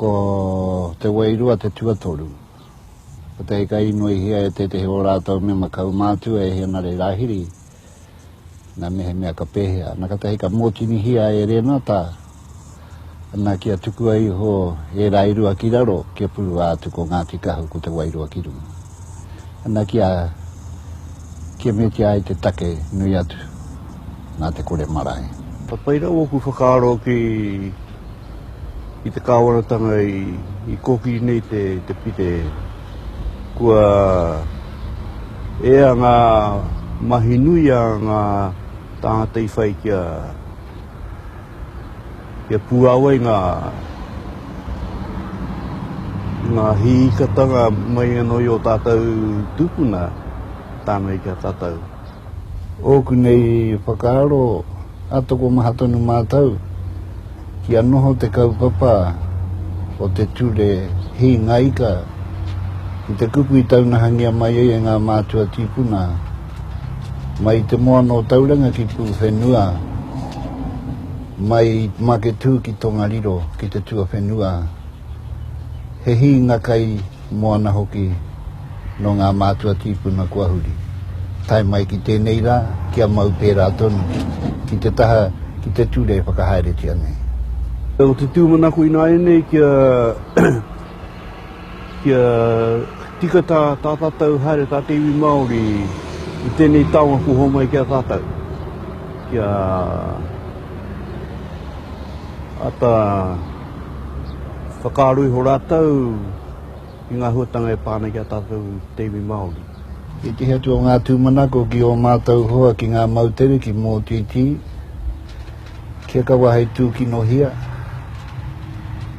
Ko te wairua te tuatoru. Ko te hika inoihia e tētehi o rātou mema kaumātua e Henare Rāhiri, nā mehemea ka pēhea. Nā ka te hika mōtinihia e Rēnata, nā kia tukua iho e Rairua ki raro, kia purua atu ko Ngāti Kahu ko te wairua ki runga. Ana kia kimetia ai te take nui atu nā te kore marae. Ka pai rawa ōku whakaaro ki te kāwanatanga i kōkiri nei te pire. Kua ea ngā mahi nui a ngā tāngata i whai kia. Kia puāwai ngā ngā hīkatanga mai anō i ō tātou tūpuna tāna i kia tātou. Ōku nei whakaaro, a tokomaha tonu mātou kia noho te kaupapa o te ture hingaika ki te kupu i taunahangia mai ai e ngā mātua tīpuna. Mai i te moana o Tauranga ki Pūwhenua, mai i Maketū ki Tongariro ki te tuawhenua, he hīnga kai moana hoki nō ngā mātua tīpuna kua huri. Tae mai ki tēnei rā, kia mau pērā tonu ki te taha ki te ture e whakahaeretia nei. Ko te tūmanako ināianei kia Kia tika tā tātau haere tā te iwi Māori i tēnei taonga kua homai ki a tātau. Kia ata whakaaro iho rātau i ngā huatanga e pā ana ki a tātau te iwi Māori. He tiki atu o ngā tūmanako ki ō mātau hoa ki ngā moutere, ki Mōtītī. Kia kaua hei tūkinohia,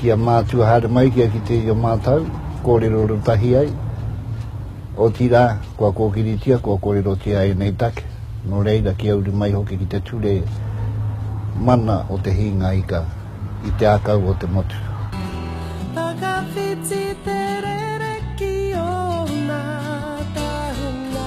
kia mātua haere mai, kia kitea i a mātou, kōrero ratahi ai, otirā, kua kōkiritia, kua kōrerotia ēnei take, nō reira, kia uru mai hoki ki te ture mana o te hīnga ika i te ākau o te motu. Whakawhiti te rere ki ōna tahuna.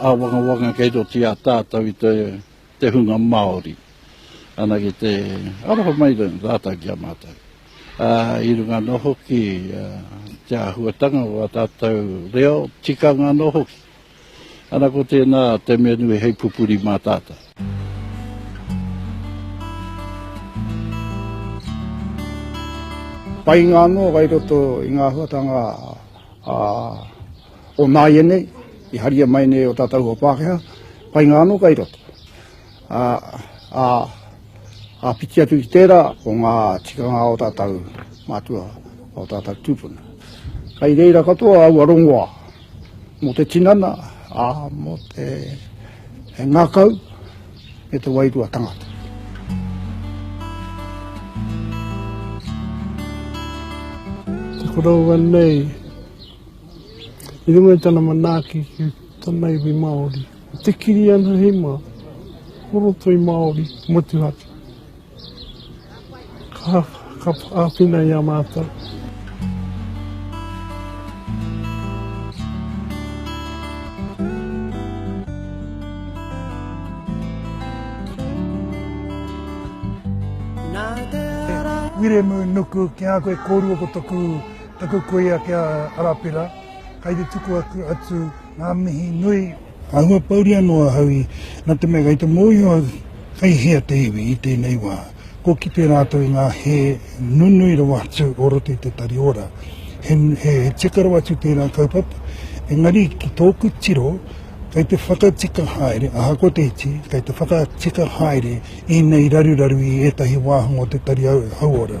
Āwangawanga kei roto i a tātou i te hunga Māori. Anake te aroha mai rātou ki a mātou. Ā, i runga anō hoki i te āhuatanga o ā tātou reo, tikanga anō hoki. Ana ko tēnā te mea nui hei pupuri mā tātou. Painga anō kai roto i ngā āhuatanga ā O nāianei, i haria mai nei o tātou hoa Pākehā, painga anō kai roto. Ā, ā, ā piti atu ki tērā o ngā tikanga o tātou mātua, o tātou tūpuna. Kai reira katoa aua rongoā, mō te tinana, ā, mō te he ngākau, me te wairua tangata. Te koroua nei, I runga i tana manaaki ki tana iwi Māori, ko te kiri ana hei mā, ko ro toi Māori motuhake. Ka, ka āwhina i a mātou. Wiremu nuku kia koe korua ko toku. Taku kuia ki a Arapera, kai te tuku atu nga mihi nui. Ka huapauri ano ahau i, na te mea kai te mohio au kai hea te iwi i tenei wa, ko kite ratou i nga he nunui rawa atu o roto i te tari ora. He, he tika rawa atu tera kaupapa, engari ki toku tiro, kai te whakatika haere, ahakoa te iti, kai te whakatika haere enei raruraru i etahi wahanga o te tari hauora.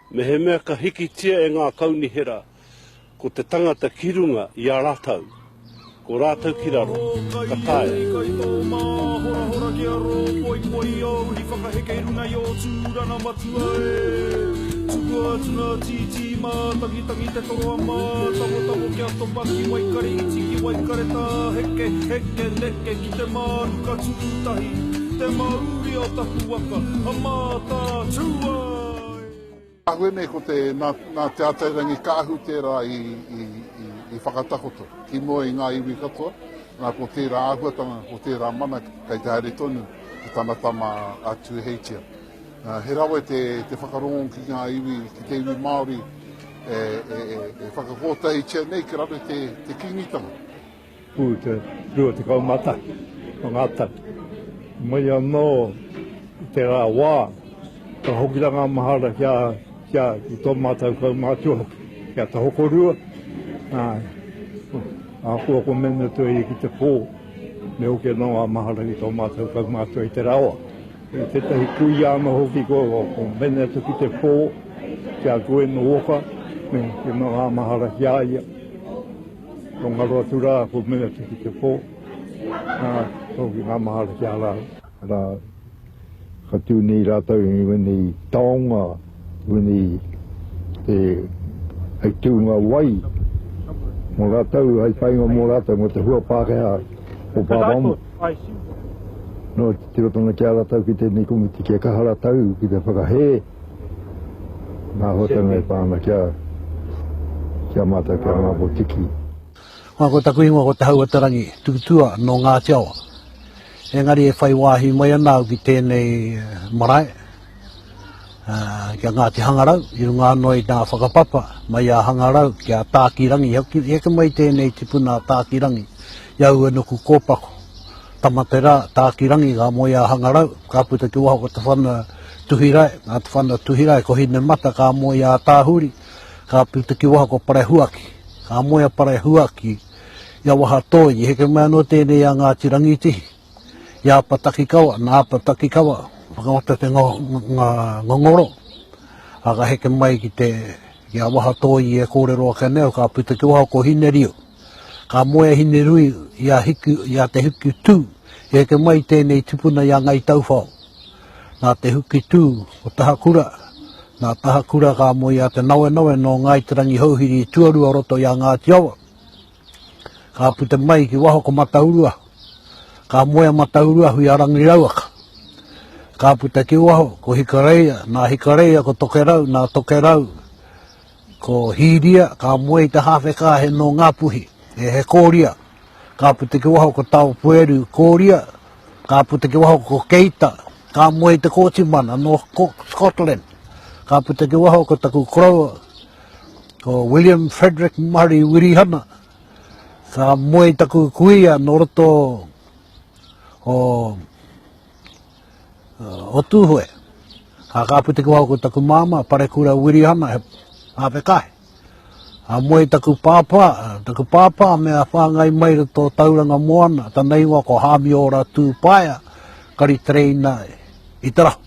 Mehemea ka hikitia e ngā kaunihera ko te tangata ki runga i a ratau, ko rātou ki raro, ka taea. Kai tō māhorahora kia rō poipoi i ōu uri whakaheke i runga i ō tūranga matua e. Tuku atu ngā tītī mātangitangi te toro a mātawotamo kia topa ki Waikare iti ki Waikare tā heke, heke, neke ki te mānuka tūtahi, te mauria o taku waka, a mātā, tū a. Kahua nei ko te, nā, nā Te Atairangi Kaahu tērā i, i, i, i whakatakoto ki mua i ngā iwi katoa. Nā, ko tērā āhuatanga, ko tērā mana kei te haere tonu ki tana tama a Tūheitia. Uh, he rawe te, te whakarongo ki ngā iwi, ki te iwi Māori e, e, e, e whakakōtahitia nei ki raro te, te kingitanga. Pū te 21 o ngā tau. Mai anō i te rā wā, ka hoki rā ngā mahara ki a, ki a, ki tō mātou kaumātua hoki, ki a Te Hokorua, ā, ahakoa ko mēnā te iwi ki te pō, me hoki anō ngā mahara ki tō mātou kaumātua i te rā wā. I tētahi kuia anō hoki ko, ko mēnā atu ki te pō, ki a Gwen Walker, me hoki anō ngā mahara ki a ia. Ko ngaro atu rā, ko mea te ki te pō, nā, tōki ngā mahara ki a rāu. Nā, ka tū nei rātou i wēnei taonga, wēnei te, hei tūnga wai, mō rātou, hei painga mō rātou, mō te hua Pākehā o Pāpāmu. Nō, tiro tonu ki a rātou ki tēnei komiti kia kaha rātou ki te whakahē. Nā Hōtana e pā ana ki a, ki a mātou, ki a Ngāpō Tiki. Ngā, ko taku ingoa ko Te Hauatarangi Tututua nō Ngāti Awa. Engari e whai wāhi mai ana au ki tēnei marae, ki a Ngāti Hangarau, i runga anō i ngā whakapapa mai a Hangarau ki a Tākirangi. Heke mai tēnei tipuna a Tākirangi i aua nuku kōpako. Tamaterā, Tākirangi, ngā moe a Hangarau, ka puta ki waho ko te whana Tuhirae, ngā whana Tuhirae, ko Hinemata, ka moe a Tāhuri, ka puta ki waho ko Parehuaki, ka moe a Parehuaki, i a Wahatoi, i heke mai anō tēnei i a Ngāti Rangitihi, i a Apatakikawa, nā Apatakikawa, whakangata te ngongoro, ā, ka heke mai ki te, ki a Wahatoi i e kōrero ake nei, ka puta ki waho ko Hineriu. Ka moe a Hinerui i a Hiku, i a Te Huki Tū, i heke mai i tēnei tipuna i a Ngai Tauwhao. Nā Te Huki Tū, ko Tahakura, nā Tahakura ka moe i a Te Nawenawe nō Ngāi Te Rangihouhiri i tuarua o roto i a Ngāti Awa. Ka puta mai ki waho ko Matauruahu. Ka moe a Matauruahu i a Rangi Rauaka. Ka puta ki waho ko Hikareia, nā Hikareia ko Tokerau, nā Tokerau, Ko Hīria, ka moe i te hāwhe kāhe nō Ngāpuhi, e he kōria. Ka puta ki waho ko Taopueru, kōria, ka puta ki waho ko Keita, ka moe i te kōti mana nō Scotland. Ka puta ki waho ko taku koroua, ko William Frederick Murray Wirihana, ka moe i taku kuia nō roto o o Tūhoe. Ka kāpiti kua ko taku māma, Parekura Wirihana, he āpekahe. A moe taku pāpā, taku pāpā me a whāngai mai ra tō Tauranga Moana, tana ingoa ko Hāmiora Tūpaea, kari tereina i te rahu.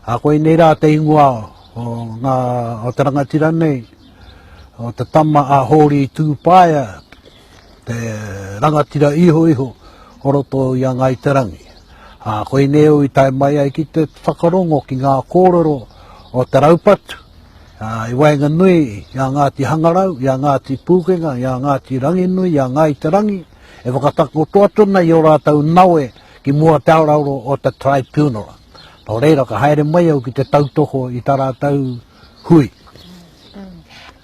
A koe nei rā te ingoa o, ngā, o te rangatira nei, o te tama a Hōri Tūpaea, te rangatira iho iho o roto i a Ngai Te Rangi. A, ko Ineo i tae mai ai ki te whakarongo ki ngā kōrero o te raupatu, a, i waenga nui i a Ngāti Hangarau, i a Ngāti Pūkenga, i a Ngāti Ranginui, i a Ngai Te Rangi, e whakatakoto atu ana i o rātou nawe ki mua te arauro o te tribunal. Nō reira, ka haere mai au ki te tautoko i tā rātou hui.